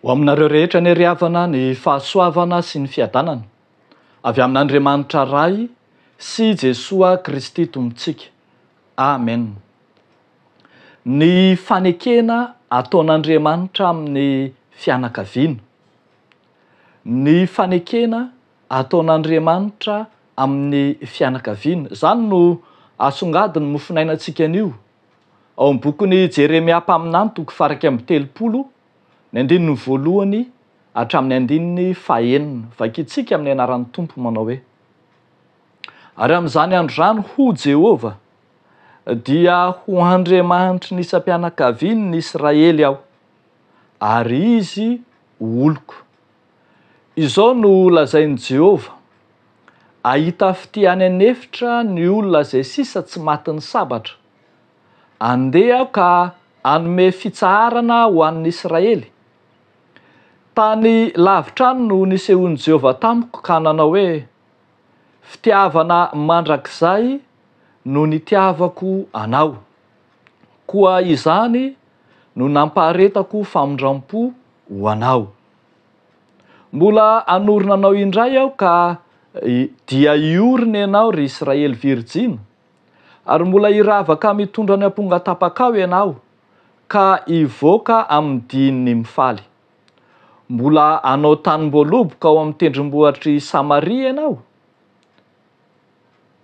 Ho aminareo rehetra anie ry havana ny fahasoavana sy ny fiadanana avy amin'Andriamanitra Ray sy Jesoa Kristy Tompontsika. Amen. Ny fanekena ataon'Andriamanitra amin'ny fianakaviana. Ny fanekena ataon'Andriamanitra amin'ny fianakaviana. Izany no asongadin'ny mofonainantsika anio. Ao amin'ny bokin'i Jeremia mpaminany, toko faha iraika amby telopolo, ny andininy voalohany hatramin'ny andininy faha enina. Vakintsika amin'ny anaran'ny Tompo manao hoe, Ary amin'izany andro izany, hoy Jehovah, Dia ho Andriamanitry ny isam-pianakavian' ny Israely aho, ary izy ho oloko. Izao no lazain'i Jehovah, Ahita fitia any an'efitra ny olona izay sisa tsy matin'ny sabatra. Andeha aho ka hanome fitsaharana ho an'ny Israely. Tany lavitra any no nisehoan'i Jehovah tamiko ka nanao hoe, Fitiavana mandrakizay no nitiavako anao, koa izany no nampaharetako famindram-po ho anao. Mbola hanorina anao indray aho ka dia hiorina ianao ry Israely virijina, ary mbola hiravaka mitondra ny amponga tapakao ianao, ka hivoaka amin'ny dihin'ny mifaly. Mbola hanao tanim-boaloboka ao amin'ny tendrombohitr'i Samaria ianao?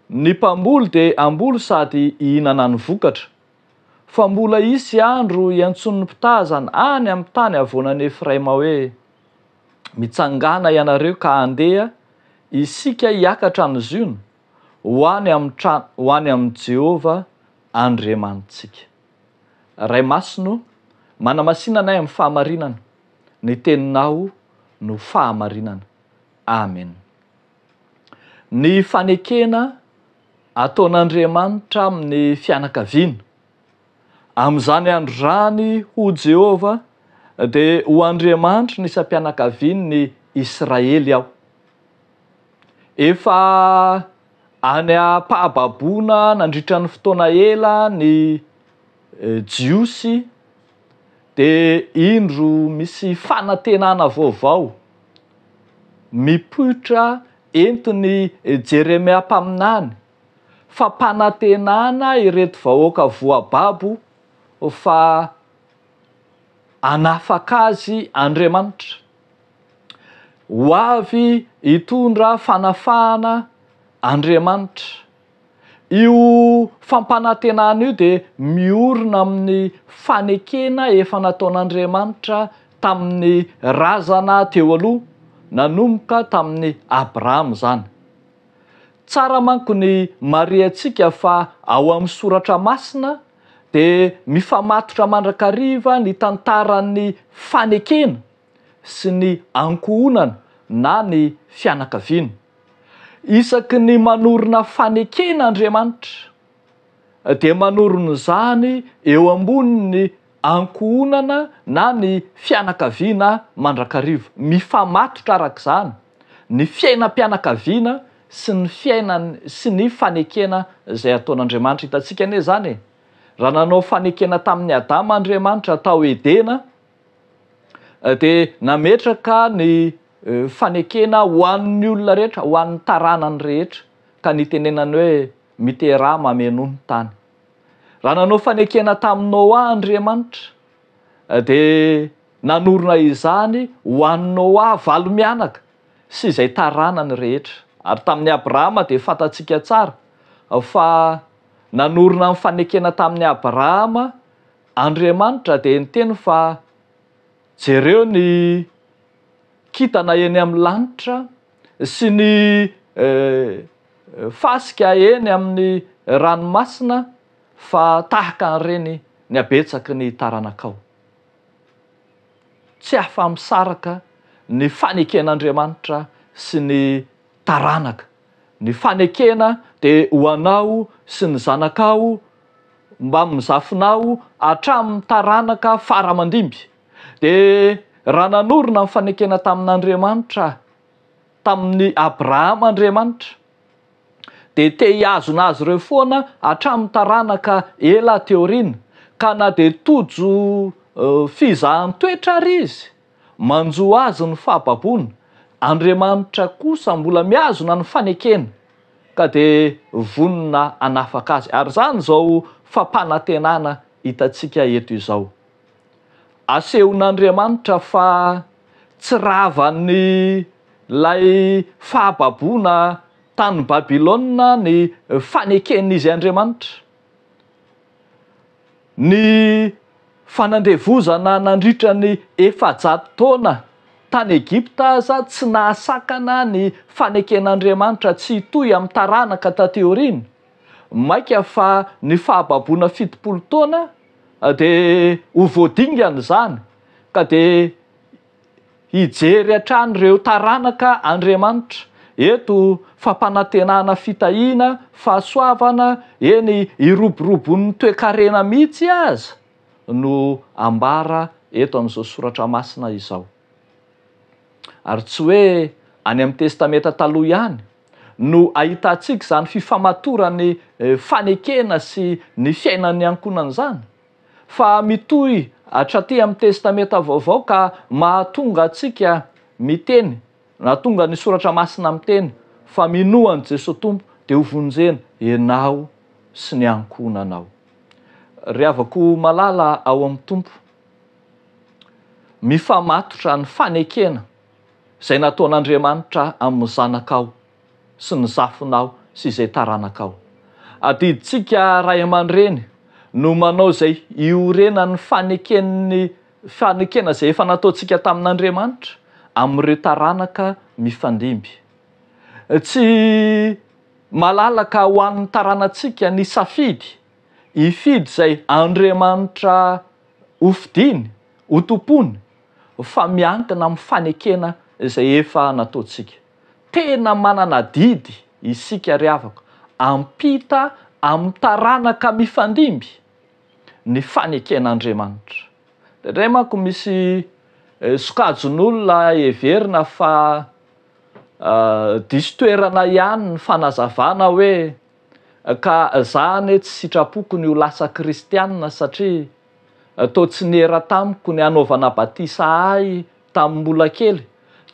Ny mpamboly dia hamboly sady hihinana ny vokatra, fa mbola hisy andro hiantsoan'ny mpitazana any amin'ny tany havoanan'i Efraima hoe, Mitsangàna ianareo ka handeha, isika hiakatra any Ziona, ho any amin'ny trano, ho any amin'i Jehovah Andriamanitsika. Ray Masina ô, manamasina anay amin'ny fahamarinana, ny Teninao no fahamarinana. Amen. Ny fanekena ataon'Andriamanitra amin'ny fianakaviana. Amin'izany andro izany hoy Jehovah, dia ho Andriamanitry ny isam-pianakavian'ny Israely aho. Efa any am-pahababoana nandritra ny fotoana ela ny Jiosy, dia indro misy fanantenana vaovao mipoitra entin'i Jeremia mpaminany, fampanantenana ireto vahoaka voababo fa hanafaka azy Andriamanitra. Ho avy hitondra fanafahana Andriamanitra. Io fampanantenana io dia miorina amin'ny fanekena efa nataon'Andriamanitra tamin'ny razana teo aloha, nanomboka tamin'i Abrahama izany. Tsara manko ny marihantsika fa ao amin'ny Soratra Masina, dia mifamatotra mandrakariva ny tantaran'ny fanekena sy ny ankohonana na ny fianakaviana. Isaky ny manorina fanekena Andriamanitra dia manorina izany eo ambonin'ny ankohonana na ny fianakaviana mandrakariva. Mifamatotra araka izany ny fiainam-pianakaviana sy ny fiainany sy ny fanekena izay ataon'Andriamanitra. Hitantsika anie izany e! Raha nanao fanekena tamin'i Adama Andriamanitra tao Edena, dia nametraka ny fanekena ho an'ny olona rehetra, ho an'ny taranany rehetra, ka nitenenany hoe, Miteraha mamenoa ny tany. Raha nanao fanekena tamin'i Noa Andriamanitra, dia nanorina izany ho an'i Noa valo mianaka. sy izay taranany rehetra. Ary tamin'i Abrahama dia fantatsika tsara fa nanorina ny fanekena tamin'i Abrahama Andriamanitra dia niteny fa jereo ny kintana eny amin'ny lanitra sy ny fasika eny amin'ny ranomasina fa tahaka an'ireny ny habetsaky ny taranakao. tsy afa-misaraka ny faneken'Andriamanitra sy ny taranaka. Ny fanekena dia ho anao sy ny zanakao mbamin'ny zafinao hatramin'ny taranaka fara aman-dimby. Dia raha nanorina ny fanekena tamin'Andriamanitra, tamin'i Abrahama Andriamanitra, dia te hihazona azy ireo foana hatramin'ny taranaka ela aty aoriana, ka na dia tojo fizahan-toetra ary izy, manjo azy ny fahababoana, Andriamanitra kosa mbola mihazona ny fanekena, ka dia vonona hanafaka azy. Ary izany izao fampanantenana hitantsika eto izao. Asehon'Andriamanitra fa tsy ravan'ilay fahababoana tany Babylona ny faneken'izy Andriamanitra. Ny fanandevozana nandritra ny efajato taona tany Egypta aza tsy nahasakana ny faneken'Andriamanitra tsy hitohy amin'ny taranaka taty aoriana, mainka fa ny fahababoana fitopolo taona, Dia ho voadingana izany ka dia hijery hatrany ireo taranaka Andriamanitra eto fampanantenana fitahiana fahasoavana eny hiroborobon'ny toekarena mihitsy aza no ambara eto amin'izao soratra masina izao ary tsy hoe any amin'ny testamenta taloha ihany no ahitantsika izany fifamatoran'ny fanekena sy ny fiainan'ny ankohonana izany, fa mitohy hatraty amin'ny Testamenta Vaovao ka mahatonga antsika miteny, nahatonga ny Soratra Masina miteny, fa minoa an'i Jesoa Tompo dia ho vonjena ianao sy ny ankohonanao. Ry havako malala ao amin'ny Tompo, mifamatotra ny fanekena. Izay nataon'Andriamanitra amin'ny zanakao sy ny zafinao sy izay taranakao. Adidintsika ray aman-dreny no manao izay iorenan'ny faneken'ny fanekena izay efa nataontsika tamin'Andriamanitra amin'ireo taranaka mifandimby. Tsy malalaka ho an'ny taranantsika ny safidy hifidy izay Andriamanitra hofidiny, hotompoiny, fa miankina amin'ny fanekena izay efa nataontsika. Tena manana adidy isika ry havako ampita amin'ny taranaka mifandimby ny faneken'Andriamanitra. Indraindray manko misy sokajin'olona heverina fa diso toerana ihany ny fanazavana hoe ka za anie tsy sitrapoko ny ho lasa kristianina satria Toa tsy niera tamiko ny hanaovana batisa ahy tamin'ny mbola kely.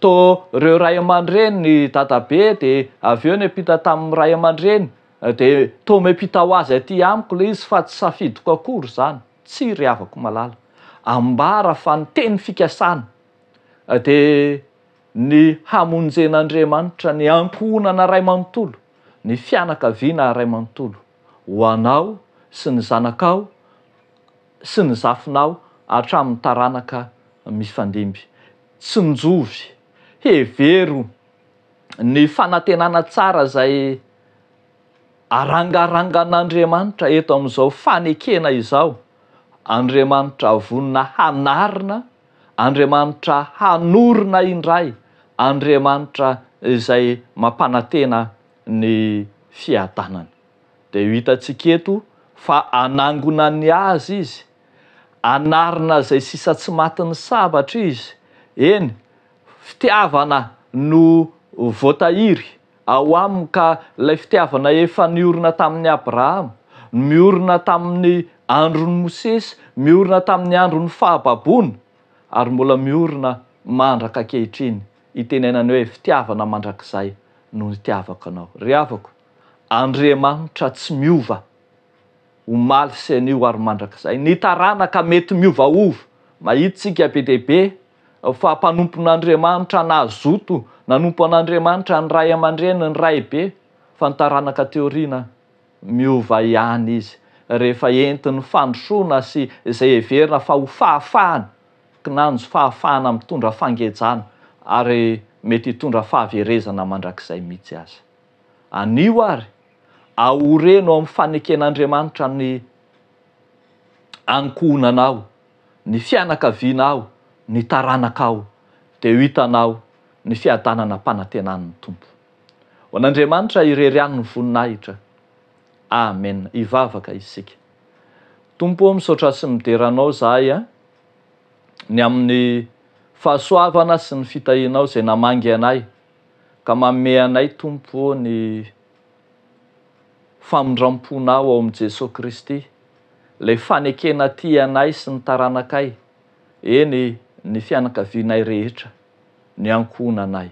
Toa ireo ray aman-dreny, ny dadabe dia avy eo niampita tamin'ny ray aman-dreny, dia toa miampita ho azy aty amiko ilay izy fa tsy safidiko akory izany. Tsia ry havako malala. Ambara fa ny teny fikasana dia ny hamonjen'Andriamanitra ny ankohonana iray manontolo, ny fianakaviana iray manontolo. ho anao sy ny zanakao sy ny zafinao hatramin'ny taranaka mifandimby. Tsinjovy. Hevero ny fanantenana tsara izay arangarangan'Andriamanitra eto amin'izao fanekena izao, Andriamanitra vonona hanarina, Andriamanitra hanorina indray, Andriamanitra izay mampanantena ny fiadanana. Dia io hitantsika eto fa anangonany azy izy, anarina izay sisa tsy matin'ny sabatra izy, eny, fitiavana no voatahiry ao aminy ka ilay fitiavana efa niorina tamin'i Abrahama, miorina tamin'ny andron'i Mosesy, miorina tamin'ny andron'ny fahababoana ary mbola miorina mandraka ankehitriny. Itenenany hoe fitiavana mandrakizay no nitiavako anao. Ry havako, Andriamanitra tsy miova, omaly sy anio ary mandrakizay. Ny taranaka mety miovaova. Mahitintsika be dia be fa mpanompon'Andriamanitra nazoto nanompo an'Andriamanitra ny ray aman-dreny, ny raibe, fa ny taranaka aty aoriana miova ihany izy rehefa entin'ny fandrosoana sy izay heverina fa ho fahafahana. Kinanjo fahafahana mitondra fangejana ary mety hitondra fahaverezana mandrakizay mihitsy aza. Anio ary, ahoreno ao amin'ny faneken'Andriamanitra ny ankohonanao, ny fianakavianao, ny taranakao, dia ho hitanao ny fiadanana ampanantenan'ny Tompo. Ho an'Andriamanitra irery ihany ny voninahitra. Amen hivavaka isika. Tompo ô misaotra sy midera anao zahay a ny amin'ny fahasoavana sy ny fitahianao izay namangy anay ka manome anay Tompo ô ny famindramponao ao amin'i Jesoa Kristy ilay fanekena tia anay sy ny taranakay eny ny fianakavianay rehetra ny ankohonanay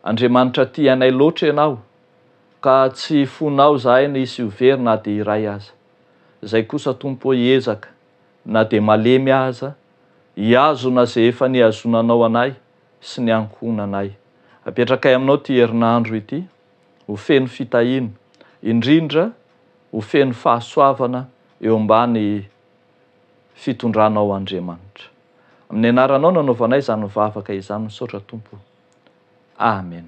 Andriamanitra tia anay loatra ianao Ka tsy fonao zahay ny hisy ho very na dia iray aza. Izay kosa Tompo ô hiezaka na dia malemy aza hihazona izay efa nihazonanao anay sy ny ankohonanay. Apetrakay aminao ity herinandro ity ho feno fitahiana, indrindra ho feno fahasoavana eo ambany fitondranao Andriamanitra. Amin'ny anaranao no anaovanay izany vavaka izany, misaotra Tompo. Amen.